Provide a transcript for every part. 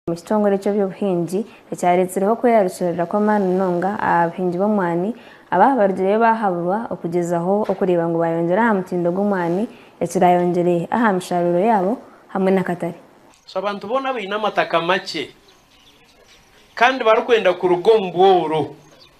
omu kitongore ky'eby'obuhingi ekyareetsireho okweyarukirira kw'amaani munonga aha buhingi bw'omwani abaaba barugireyo baahaburwa okugyezaho okureeba ngu baayongyera aha mutindo gw'omwani ekiraayongyere aha mishaaruuro yaabo hamwe n'akatare. So abantu boona abaine amataka makye kandi barikwenda kuruga omu bworo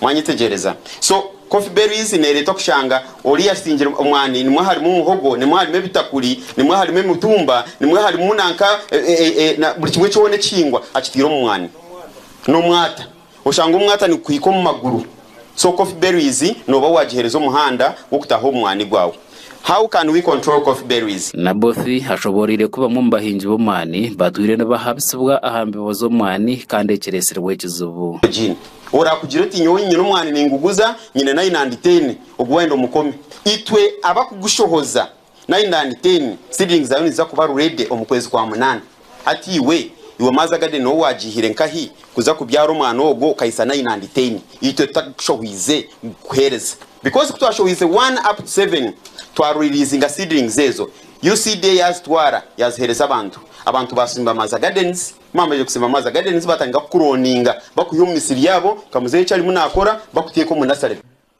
Mwanyetegyereza? So, coffee berries neereetwa kushanga ori yasingire omwani, nimwo harimu muhogo, nimwo harimu ebitakuri, nimwo harimu emitumba, nimwo harimu nanka buri kimwe kyona ekihingwa akitaire omu mwani. N'omwata. Oshanga omwata nigukuhika omu maguru. So, coffee berries nooba waagiheereza omuhanda gw'okutaaha omu mwani gwawe. How can we control coffee berries? Naboth ashobooroire ku bamwe omu bahingi b'omwani batwire nibahabisibwa aha mbibo z'omwani kandi ekireetsirwe ekizibu. Jean, Oraakugire oti, Nyowe nyine omwani ninguguza, nyine nayi nandi teine ogu wayenda omukome. Itwe abakugushohoza nayi nandi teine, seedlings zaayo niziza kuba ready omu kwezi kwa munaana. Hati iwe, iwe Maza Garden nooba waagiihire nkahi kuza kubyara omwani ogwo okahitsya nayi nandi teine itwe tutagukushohoize kugukuheereza? Because ku twashohoize one up to seven, twariliizinga seedlings ezo, UCDA yaazitwara yaaziheereza abantu. Abantu baasimba Maza Gardens. Ku bamaze kusiima amaazi aga Denise baatandika kukurooninga bakwiha omu misiri yaabo nka muzeeyi eki arimu naakora bakuteeka omu nasare.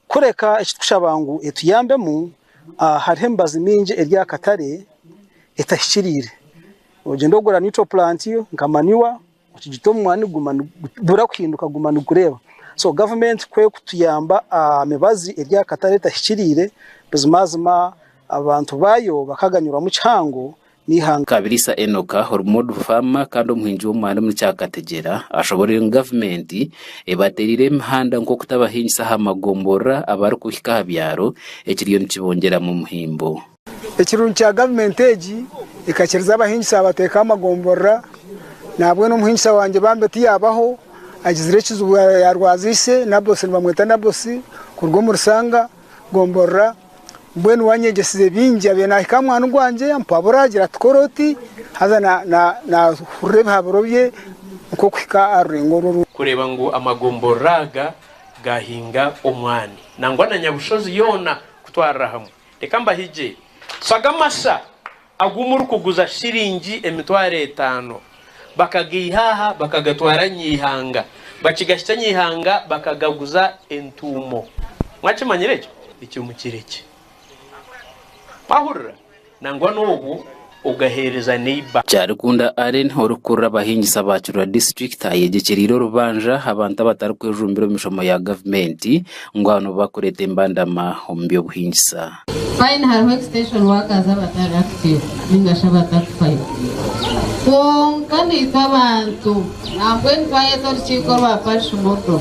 Kureka eki tukushaba ngu etuyambemu, hariho emibazi mingi eri aha katare etahikiriire. Ogyenda ogura neutral plant nka manure okigita omu mwani guma nigubura kuhinduka guma nigureeba. So gavumenti ku erikutuyamba aha mibazi eri aha katare etahikiriire buzimazima abantu baayo bakaganyirwamu kihango n'eihanga. Kabiriisa Enoka ori Modu Faama kandi omuhingi w'omwani omuri Kyakategyera ashoboreire ngu gavumenti ebateereire emihanda nk'okutabahingisa aha magomborora abarikuhika aha byaro ekiriyo nikibongyeramu omuhimbo. Ekirungi kya gavumenti egi ekakiriza abahingisa yabateekaho amagomborora nahabwenu omuhingisa wangye bambi ti yaabaho agizire ekizibu yaarwaza ise Nabosi nibamweta Nabosi kuruga omuri Sanga gomborora. Mbwenu wanyegyesize bingi abyire nahika aha mwaani gwangye ampabura agira ati kora oti haza nahurira ebihaburo bye nk'okuhika aha rurengo orwo. Kureeba ngu amagomborora aga gaahinga omwaani nangwa na nyabushozi yoona kutwarira hamwe. Reka mbahigye. Shagamasha! Agu murikuguza shiringi emitwaro etaano. Bakagaiha aha, bakagatwara Nyaihanga. Bakigahikya Nyaihanga, bakagaguza entuumo. Mwakimanyire ekyo? Ekyo mukirekye. Mwahurira? Nangwa n'obwo ogaheereza neiba. Kyarikunda Allen orikukurira abahingisa ba Kibira District ayeyegyekyeriire orubanja abantu abatarikwejumbira omu mishomo ya gavumenti, ngu aho nibo bakureeta embandama omu by'obuhingisa. Fine hariho extension workers abatari active ninga shi abatakufayo kwonka naitwe abantu nambwenu twayeta orukiiko rwa parish model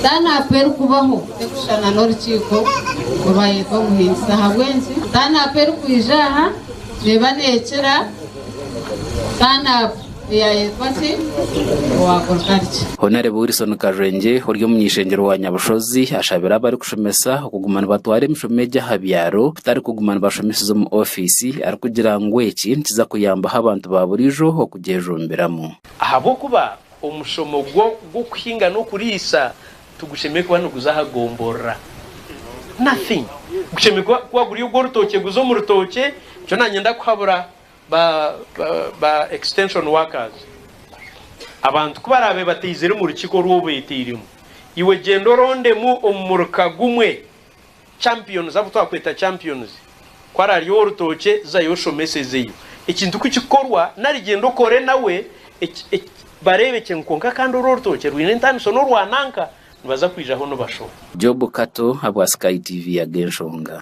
turnup erikubaho tekushushana n'orukiiko orubayeta omuhingisa ahabw'enki turnup erikwiija aha neeba nekira turnup Yayetwa ki? Owakuruka ari ki? Honarebo Wilson Karwengye ori omuny'eishengyero wa Nyabushozi ashabire abarikushomesa okuguma nibatwara emishomo egi aha byaro kutari kuguma nibashomeseza omu ofiisi arikugira ngu eki nikiza kuyambaho abantu ba buriijo okugyejumbiramu. Ahabw'okuba omushomo gw'okuhinga n'okuriisa tigushemereire kuba niguza aha gomborora. Nothing. Gushemereire kuba guri ogw'orutookye guza omu rutookye nikyo naanye ndakuhabura Ba ba extension workers abantu ku baraabe bataizire omu rukiiko oru obeeteiremu, iwe gyenda orondemu omu muruka gumwe champions, abu twakweta champions, ku arari ow'orutookye zayo oshomesezeyo ekintu ku kikorwa nari gyenda okore nawe bareebe kye ngu kwonka kandi oru orutookye rwine entaaniso n'orwa nanka nibaza kwijaho nibashoma. Job Kato abu Sky TV yaga enshonga.